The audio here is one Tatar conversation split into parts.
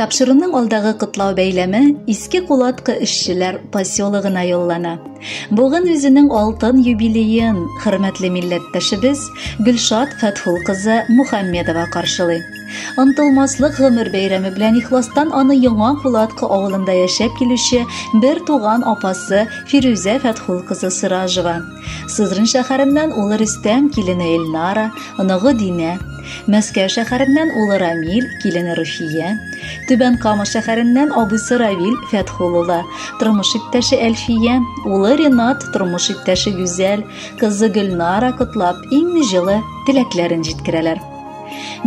Тапшыруның алдагы котлау бәйләме Иске Кулаткы эшчеләр поселогына юллана. Бүген үзенең алтын юбилеен хөрмәтле милләттәшебез Гөлшат Фәтхул кызы Мухаммедова каршылый. Онтылмаслык гомер бәйрәме белән ихластан аны Яңа Кулатка авылында яшәп килүче бер туган апасы Фирүзә Фәтхул кызы Сыражева. Сызрын шәһәреннән улы Рөстәм, килене Эльнара, оныгы Динә. Мәскәү шәһәреннән улы Рамил, килене Руфия. Түбән Кама шәһәреннән абысы Равил Фәтхул улы, тормыш иптәше Әлфия, улы Ренат, тормыш иптәше Гүзәл, кызы Гөлнара котлап, иң җылы теләкләрен җиткерәләр.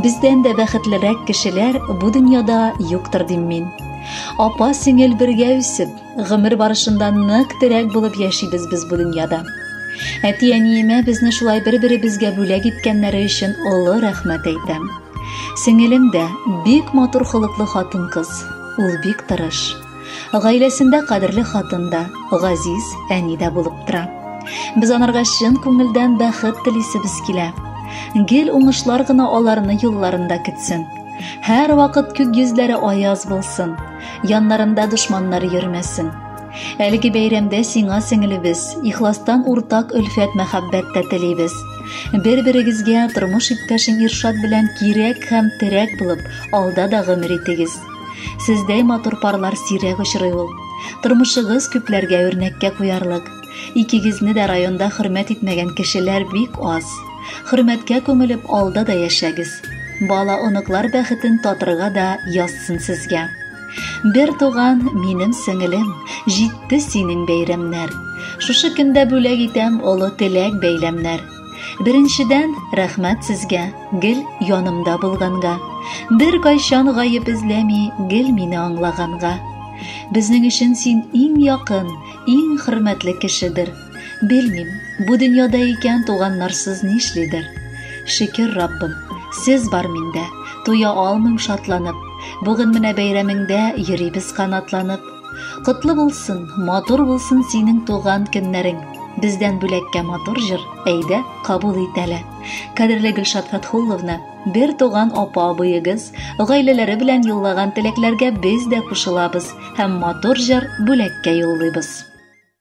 Бездән дә бәхетлерәк кешеләр бу дөньяда юктыр дим мин. Апа сеңел бергә үсеп, гомер барышында нык терәк булып яшибез без бу дөньяда. Әти-әниемә безне шулай бер-беребезгә бүләк иткәннәре өчен олы рәхмәт әйтәм. Сеңелем дә бик матур холыклы хатын-кыз. Ул бик тырыш. Гаиләсендә кадерле хатын да, газиз әни дә булып тора. Без анарга чын күңелдән бәхет телисебез килә. Гел уңышлар гына аларны юлларында көтсен. Һәр вакыт күк йөзләре аяз булсын, яннарында дошманнар йөрмәсен. Әлеге бәйрәмдә сиңа сеңелебез, ихластан уртак өлфәт мәхәббәт тә телибез. Бер-берегезгә тормыш иптәшең Иршат белән кирәк һәм терәк булып, алда да гомер итегез. Сездәй матур парлар сирәк очрый ул. Тормышыгыз күпләргә үрнәккә куярлык. Икегезне дә районда хөрмәт итмәгән кешеләр бик аз. Хөрмәткә күмелеп алда да яшәгез. Бала оныклар бәхетен татырга да язсын сезгә. Бер туган минем сеңелем, җитте синең бәйрәмнәр. Шушы көндә бүләк итәм олы теләк бәйләмнәр. Беренчедән, рәхмәт сезгә, гел янымда булганга. Бер кайчан гаеп эзләми, гел мине аңлаганга. Безнең өчен син иң якын, иң хөрмәтле кешедер. Белмим, бу дөньяда икән туганнарсыз нишлидер. Шөкер Раббым, сез бар миндә, туя алмыйм шатланып. Бүген менә бәйрәмеңдә йөрибез канатланып. Котлы булсын, матур булсын синең туган көннәрең. Бездән бүләккә матур җыр, әйдә, кабул ит әле. Кадерле Гөлшат Фәтхулловна, бер туган апа абыегыз, гаиләләре белән юллаган теләкләргә без дә кушылабыз һәм матур җыр бүләккә юллыйбыз.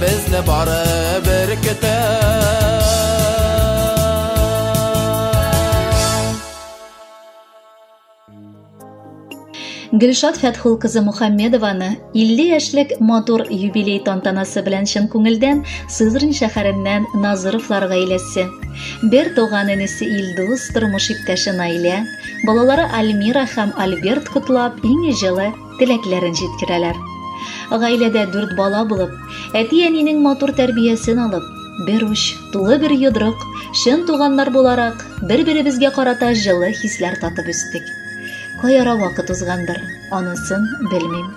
Безне бары бер Гөлшат Фәтхул кызы Мухаммедованы 50 яшьлек матур юбилей тантанасы белән чын күңелдән Сызрань шәһәреннән Назыровлар гаиләсе. Бер туган энесе Илдус, тормыш иптәше Наилә, балалары Альмира һәм Альберт котлап, иң җылы теләкләрен җиткерәләр. Гаиләдә дүрт бала булып, әти-әнинең матур тәрбиясен алып, бер уч, тулы бер йодрык, чын туганнар буларак, бер-беребезгә карата җылы хисләр татып үстек. Каяра вакыт узгандыр, анысын белмим.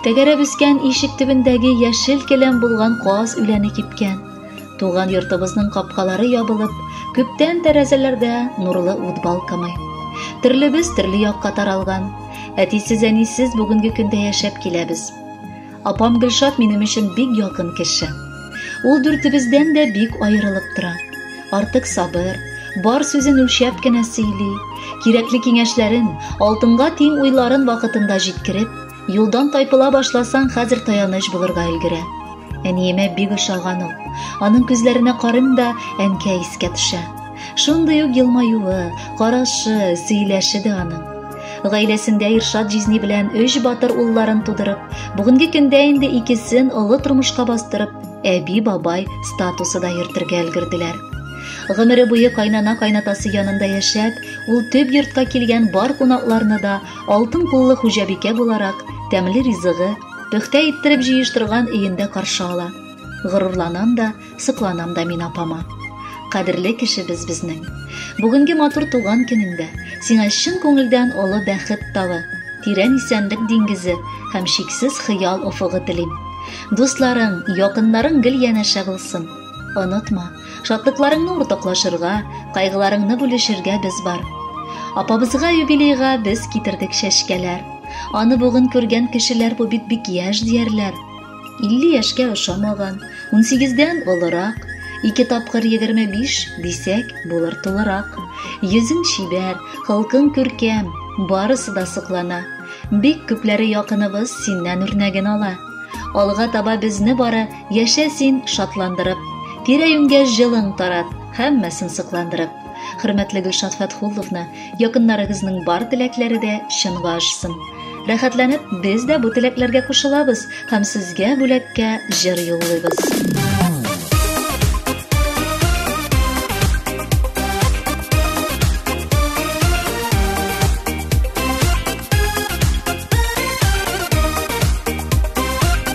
Тәгәрәп үскән ишек төбендәге яшел келәм булган каз үләне кипкән. Туган йортыбызның капкалары ябылып, күптән тәрәзәләрдә нурлы ут балкымый. Төрлебез төрле якка таралган. Әтисез, әнисез бүгенге көндә яшәп киләбез. Апам Гөлшат минем өчен бик якын кеше. Ул дүртебездән дә бик аерылып тора. Артык сабыр, бар сүзен үлчәп кенә сөйли, кирәкле киңәшләрен, алтынга тиң уйларын вакытында җиткереп, Юлдан тайпыла башласаң, хәзер таяныч булырга өлгерә. Әниемә бик ошаган ул. Аның күзләренә карыйм да, әнкә искә төшә. Шундый ук елмаюы, карашы, сөйләше дә аның. Гаиләсендә Иршат җизни белән өч батыр улларын тудырып, бүгенге көндә инде икесен олы тормышка бастырып, әби-бабай статусы да йөртергә өлгерделәр. Гомере буе кайнана-кайнатасы янында яшәп, ул төп йортка килгән бар кунакларны да Алтын куллы хуҗабикә буларак, тәмле ризыгы, пөхтә иттереп җыештырган өендә каршы ала. Горурланам да, сокланам да мин апама. Кадерле кешебез безнең. Бүгенге матур туган көнеңдә сиңа чын күңелдән олы бәхет тавы, тирән исәнлек диңгезе һәм чиксез хыял офыгы телим. Дусларың, якыннарың гел янәшә булсын. Онытма, Шатлыкларыңны уртаклашырга, кайгыларыңны бүлешергә без бар. Апабызга юбилейга без китердек чәчкәләр. Аны бүген күргән кешеләр бу бит бик яшь диярләр. 50 яшькә ошамаган, 18-дән олырак, ике тапкыр 25 дисәк, булыр тулырак. Йөзен чибәр, халкын күркәм, барысы да соклана. Бик күпләре якыныбыз синнән үрнәген ала. Алга таба безне бары Яшә син шатландырып, тирә-юньгә җылың тарат, һәммәсен сокландырып. Хөрмәтле Гөлшат Фәтхулловна, якыннарыгызның бар теләкләре дә чынга ашсын. Рәхәтләнеп, без дә бу теләкләргә кушылабыз һәм сезгә бүләккә җыр юллыйбыз.